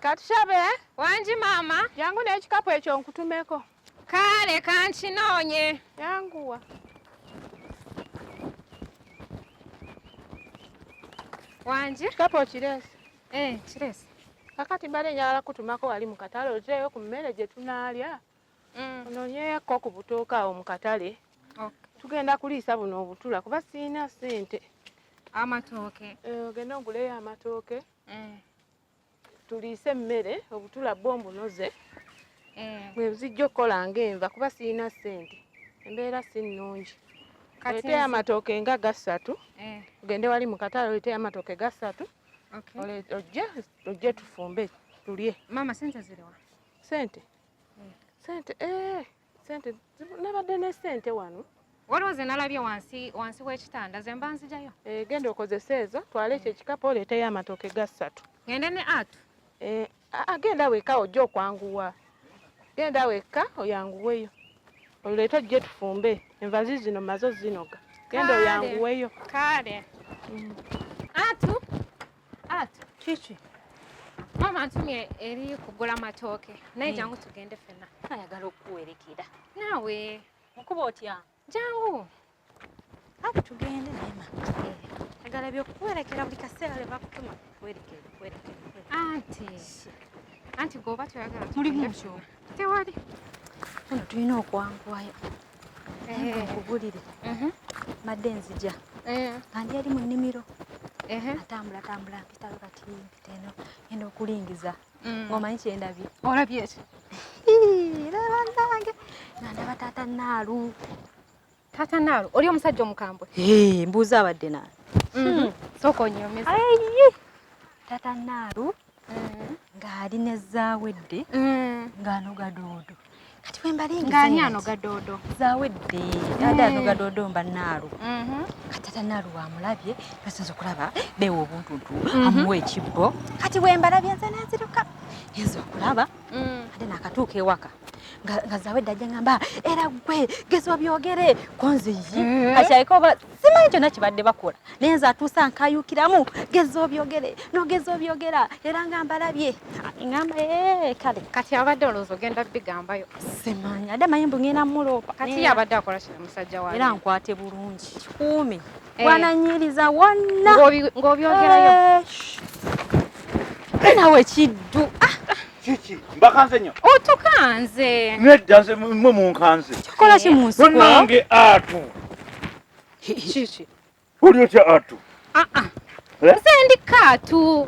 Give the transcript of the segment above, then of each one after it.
Katushabe wangi maama, jangu n'ekikapu ekyo nkutumeko. Kaale kankinoonye. Yanguwa. Wangi. Ekikapu okireese? Eh, kireese. Kakati mbadde njagala kutumako wali mu katale ozeeyo ku mmere gye tunaalya. mm. ononyeyakko ku butooka awo mu katale tugenda kuliisa buno obutula kuba sirina sente amatooke eh, ogenda oguleyo amatooke eh. tuliise emmere obutula bwo mbunoze eh. bwebuzijja okukola nga enva kuba sirina sente embeera si nnungi oleteyo amatooke nga gasatu ogende wali mu katale oleteyo amatooke gasatu ojje ojje tufumbe tulye mama sente ziriwa sente sente eh, sente nabadde ne sente wano waliwo ze nalabye wansi wansi w'ekitanda ze mba nzijayo eh, genda okozesa ezo twale ekyo ekikapu oleeteyo amatooke ga ssatu ngende ne atu eh, agenda weka ojja okwanguwa genda weka oyanguweyo oleete ojje tufumbe envazi zino mazo zinoga genda oyanguweyo kale mm. atu Ati kiki? Mama ntumye eri kugula matooke naye jangu tugende fena. Ayagala okuwerekera. Naawe nkuba otya? Jangu. Ati tugende naye mama. Ayagala ebyokuwerekera buli kaseera lwe bakutuma kuwerekera kuwerekera. Anti. Anti gwoba toyagala. Mulimu ki? tewali ono tulina okwanguwayo nkubulire eh. mhm. madde nzija eh. andi yali mu nnimiro eh. atambula tambula mpitawo kati mpita eno enda okulingiza mm. ngaomanyi kyendabye olabye ekyo era banange nandaba taata naalu Tata Nalo, oli omusajja omukambwe? Hey, mbuuza abadde nani? Mm -hmm. Soko nyomesa. Ayi. Tata Nalo mm -hmm. ngali ne zawedde mm -hmm. ngano gadodo. Kati we mbali ngi. Ngani ano gadodo. Zawedde. Mm -hmm. Dada ano gadodo mba Nalo. Mm -hmm. Kati Tata Nalo wa mulabye basinzo kulaba bewo obuntu tu mm -hmm. amuwe kibbo. Kati we mbalabye nze naziruka. Yezo kulaba. mm. ate nakatuuka ewaka nga zawedde ajja ngamba era gwe gezwa byogere konze yi mm. kakyayika oba simanyi kyonna kibadde bakola naye nze atuusa nkayukiramu geza obyogere nogeza obyogera era nga mbalabye ngamba eh, kale kati abadde olowooza ogenda bigambayo simanyi ade manyi mbu ngenda muloopa kati yabadde akola kino musajja wa era nkwate bulungi kikuume eh. wananyiriza wonna ng'obyogerayo eh, nawe kiddu ah. kiki mbakanze nyo otukanze nedda nze mwe munkanze kikola ki munsi nange atu kiki oli otya atu aa ah, ah. eh? nze ndi kaatu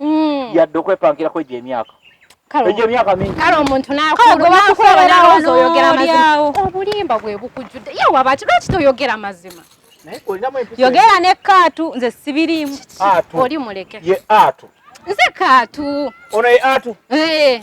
mm. yadde okwepankirako egyo emyaka egyo emyaka mingi kale omuntu nakulowozaoyogeramazima obulimba bwe bukujjudde ye wabaki lwaki toyogera mazima yogera ne kaatu nze sibirimu oli muleke ye atu nze kaatu ono ye atu eh.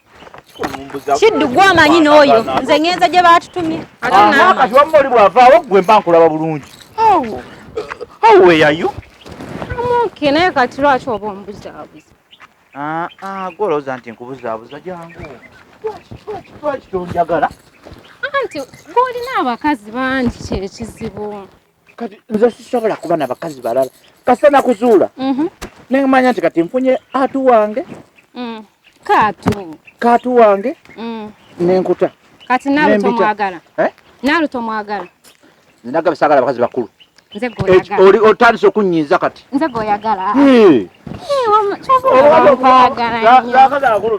kiddu gwe amanyi n'oyo nze ŋenza gye baatutumye kati wamma oli bw'avaawo gwe mba nkulaba bulungi aweyayo amuke naye kati lwaki oba omubuzaabuza ah, ah, gwe olowooza nti nkubuzaabuza jangu lwaki tonjagala anti gw'olina abakazi bangi kyekizibu kati nze sisobola kuba na bakazi balala kasita nakuzuula mhm. nemanya nti kati nfunye atu wange mm. kaatu kaatu wange mm. nenkuta kati nawe tomwagala eh? nawe tomwagala nagaba sagala bakazi bakulu oli otandise okunyiiza kati nze goyagala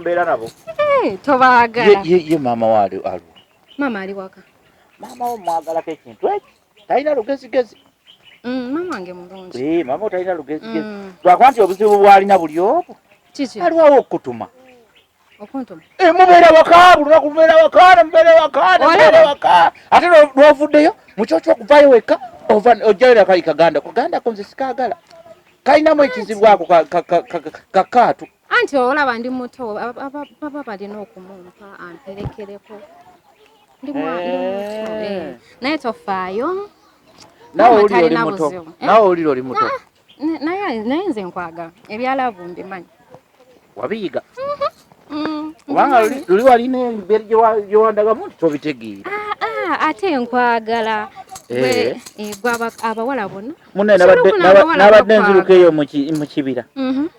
mbeera nabo tobaagala ye maama waali aliwo maama ali waka maama wo mwagalako ekintu ekyo talina lugezigezi mm, maama wange mulungi ee eh, maama otalina lugezigezi mm. lwakuba nti obuzibu bwalina buli omu aliwawo okukutuma okuntuma ee eh, mubeera waka bulunaku mubeera waka mubeera waka mubeera waka ate lwovuddeyo mukyokyo okuvayo wekka ojjayo nakali kaganda kaganda konze sikagala kalinamu ekizibu ako kakaatu anti olaba ndi muto baba balina okumumpa amperekereko ndi mwana eh. eh. naye tofaayo nawe oli oli muto eh? nawe oli oli muto naye naye nze nkwagala ebyalavu mbimanyi wabiyiga mhm. mm, kubanga luli walina emberi gyewandagamu nti tobitegeera ah, ah, ate nkwagala eh. eh, gwe abawala bona munenabadde nziruka eyo mu kibira mhm.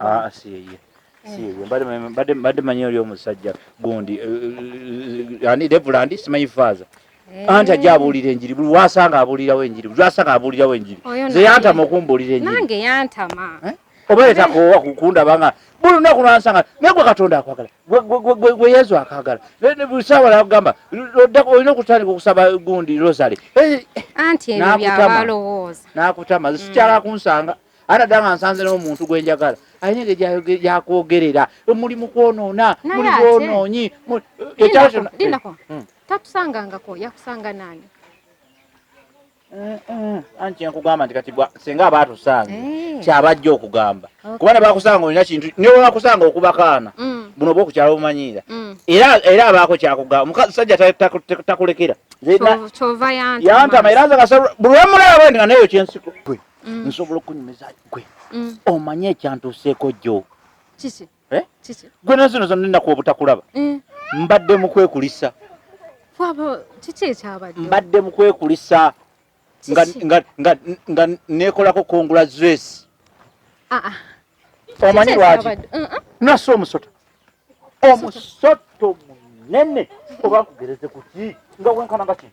Ah, ah, siyeye siyeye mbadde mbadde manyi oli omusajja gundi eh, eh, eh, ani devula ndi simanyi faaza anti ajja abuulira enjiri buli wasanga abuulirawo enjiri buli wasanga abuulirawo enjiri ze yantama okumbuulira enjiri nange yantama oba etakoowa kukundaba nga buli lunaku lwansanga naye gwe katonda akwagala gwe yesu akagala sawa nakugamba olina okutandika okusaba gundi rosary eh, nakutama mm. sikyala kunsanga ate dda nga nsanze n'omuntu gwe njagala alina engeri gyakwogerera muli mu kwonoona muli bwonoonyi eh, eh, hmm. tatusangangako yakusanga nani anti kyenkugamba nti kati senga aba atusanga eh. kyabajja okugamba kuba ne bakusanga olina kintu ne bakusanga okuba kaana mm. buno bwo kukyalo bumanyiira mm. era era abaako kyakugamba omusajja takulekera yantama era nze kasa buli wemulaba bwendi nga nayo kyensiko gwe mm. nsobola okunyumiza gwe omanye ekyantuuseeko jjo kiki Eh? gwe nazino zonna ennaku obutakulaba eh. mbadde mukwekulisa mbadde mukwekulisa nga nekolako kongula zwesi ah, ah. omanyi lwaki uh-uh. nasa omusota omusoto munene oba nkugereze kuki nga wenkana nga kino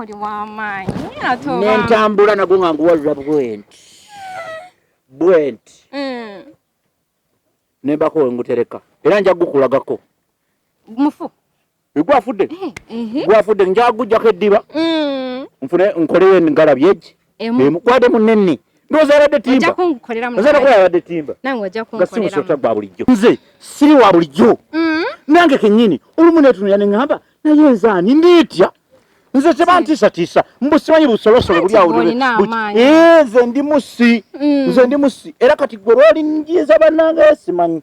oli wamaanyi ate nentambula nago nga nguwalula bwenti bwenti mm. nembako wengutereka era nja gukulagako mufu gwafudde eh, gwafudde nja gujjako eddiba mm. nfune nkoleyo engalabi egi emukwade munene ndoza abadde timba oza nakuba abadde timba nga si musota gwa bulijjo nze siri wa bulijjo mm-hmm. nange kenyini olumu netunula ne ŋŋamba naye nze ani ndiitya nze tebantiisatiisa mbusimanyi busolosolo buli awo eh, nze ndi musi mm. nze ndi musi era kati gwe lwoli njinza banange simanyi